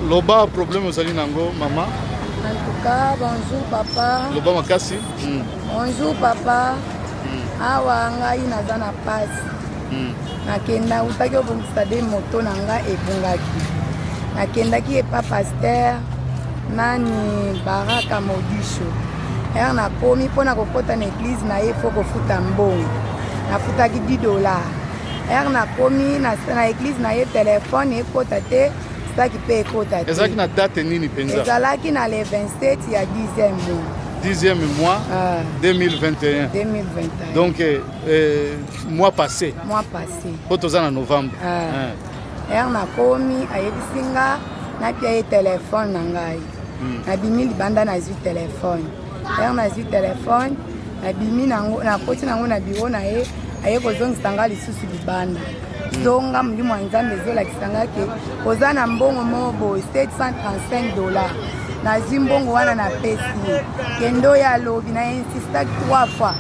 Loba problème ozali nango mama. En tout cas, bonjour papa. Loba makasi. Mm. Bonjour papa. Mm. Awa ngai naza na pasi. Mm. Nakenda utaki obongisa de moto na ngai ebungaki. Nakendaki epa pasteur nani Baraka Modisho. Ere nakomi mpo na kokota na eglize na ye fo kofuta mbongo. Nafutaki 10 dollars. Ere nakomi na, na eglize na ye telefone ekota te. saki mpe ekota te. Ezalaki na date nini mpenza? Ezalaki na le 27 ya 10e mois. 10e mois ah. 2021. 2021. Donc eh, eh, mois passé. Mois passé. Mpo toza na novembre. Ah. Eh. Ere nakomi ayebisi nga napia ye telefone na ngai. Hmm. Nabimi libanda nazwi telefone. Ere nazwi telefone nabimi nakoti nango na biro na ye aye kozongisa ngai lisusu libanda. zonga molimo ya nzambe ezolakisa nga ke oza na mbongo moko boye 735 dollar nazwi mbongo wana napesi ye kende oyo alobi na insistaki 3 fois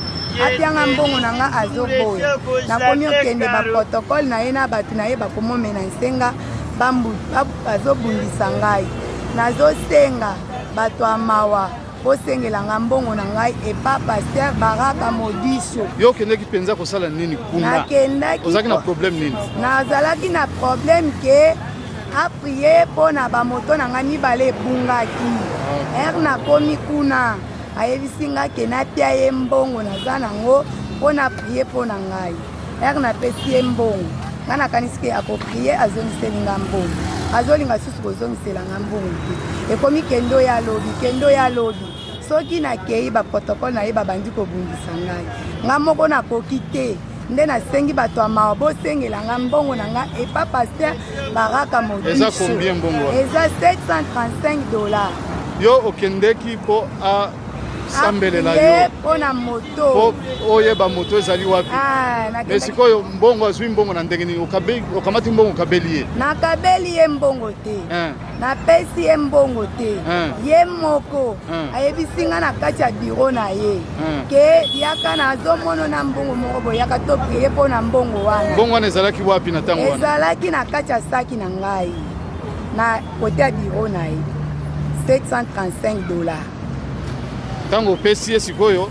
apianga mbongo na nga azoboya nakomi okende baprotokole na ye na bato na ye bakomomena nsenga bazobundisa ngai nazosenga bato ya mawa bosengela nga mbongo na ngai epa paster baraka modiso yo okendeki mpenza kosala nini kuna ozalaki na problème nini nazalaki na problème ke aprie mpo na bamoto na ngai mibale ebungaki ah. ere nakomi kuna ayebisi ngai ke napia ye mbongo naza nango mpo na prie mpo na ngai Heure napesi ye mbongo, ngai nakanisi ke akoprie azongiseli nga mbongo, azolinga susu kozongisela nga mbongo te. Ekomi kendo ya lobi, kendo ya lobi. Soki nakei ba protocole na ye babandi kobundisa ngai, ngai moko nakoki te nde nasengi bato ya mawa bosengela nga mbongo na nga epa paster baraka modiso eza 735 dollars yo okendeki mpo sambele na yo pona moto oyeba moto ezali wapi ah, mais sikoyo mbongo azwi mbongo na ndenge nini okamati mbongo okabeli ye nakabeli ye mbongo te eh. napesi ye mbongo te eh. ye moko eh. ayebisi nga na kati ya biro na ye ke yaka nazomono na mbongo moko boyaka topriye mpo na mbongo wana mbongo wana ezalaki wapi na ntango wana ezalaki na kati ya saki na ngai na kote ya biro na ye 735 dollars ntango opesi ye sikoyo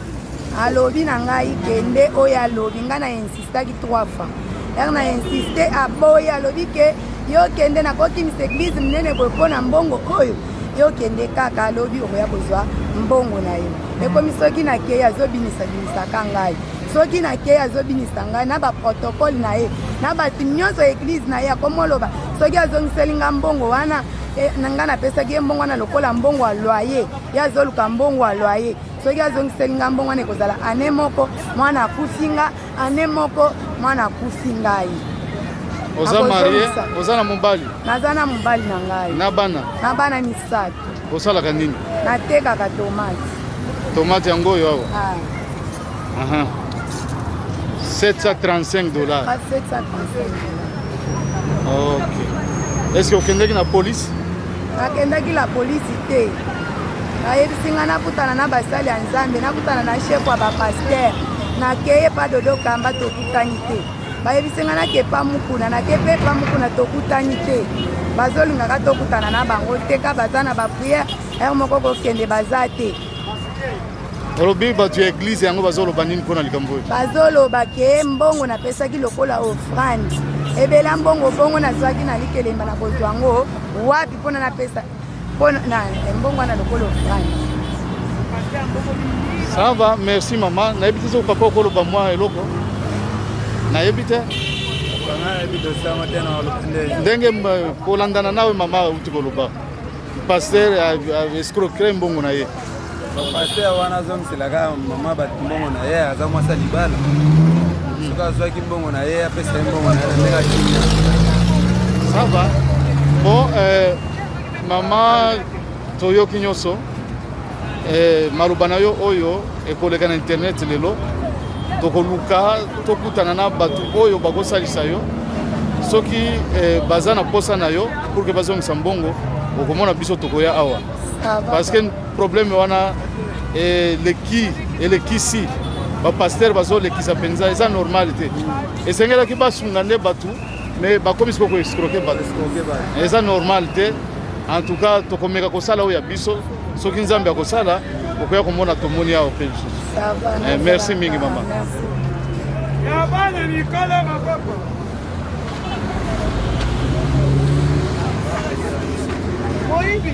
alobi na ngai kende oyo alobi ngai na insistaki 3 fois yaka na insiste aboyi alobi ke yo kende nakokimisa eglize monene boye mpo na mbongo oyo yo kende kaka alobi okoya kozwa mbongo na yo ekomi soki nakei azobinisa binisaka ngai soki nakei azobinisa ngai na baprotokole na ye na bato nyonso ya eglize na ye akomoloba soki azongiseli nga mbongo wana eh, na ngai napesaki ye mbongo wana lokola mbongo ya loye ye azoluka mbongo ya loye soki azongiseli nga mbongo wana ekozala ane moko mwana akufi nga ane moko mwana akufi ngai oza marie oza na mobali naza na mobali na ngai na bana na bana misato osalaka nini natekaka tomate tomate yango oyo awa ah. Aha. 735 dollars. Pas 735 dollars. Ok. Est-ce que okendeki na police? Nakendaki la police te. Nayebisi ngai nakutana na basali ya Nzambe, nakutana na chef ya bapaster. Nakeye pa dodo kamba tokutani te. Bayebisi ngai nake pa mukuna, nake pe pa mukuna tokutani te. Bazolingaka tokutana na bango te ka baza na bapriere, heure moko kokende baza te. olobi bato ya eglize yango bazoloba nini mpo na likambo oyo bazoloba ke mbongo napesaki lokola ofrande ebela mbongo bongo nazwaki na likelemba na kozwa yango wapi mpona napesa mpona eh, mbongo wana lokola ofrande ça va merci mama nayebi te soki papa okoloba mwa eloko nayebi te ndenge kolandana nawe mama auti koloba Pasteur escroquer mbongo na ye. Pasteur wana azongisela kaka mama bato mbongo na ye aza mwasi ya libala. Soki azwaki mbongo na ye apesa ye mbongo na ye ndenge akimia. Ça va. Bon, euh, mama toyoki nyonso Eh, maloba na yo oyo ekoleka na internet lelo tokoluka tokutana na bato oyo bakosalisa yo soki eh, baza na posa na yo pour que bazongisa mbongo okomona biso tokoya awa ah, parce que problème wana eleki eh, elekisi bapastere bazolekisa mpenza eza normal te esengelaki basunga nde bato mais bakomisi koko escroke bato eza normal te en tout cas tokomeka kosala oyo ya biso soki nzambe akosala okoya komona tomoni awa mpe lisusu eh, merci mingi mama ya bana mikolo maboko moyibi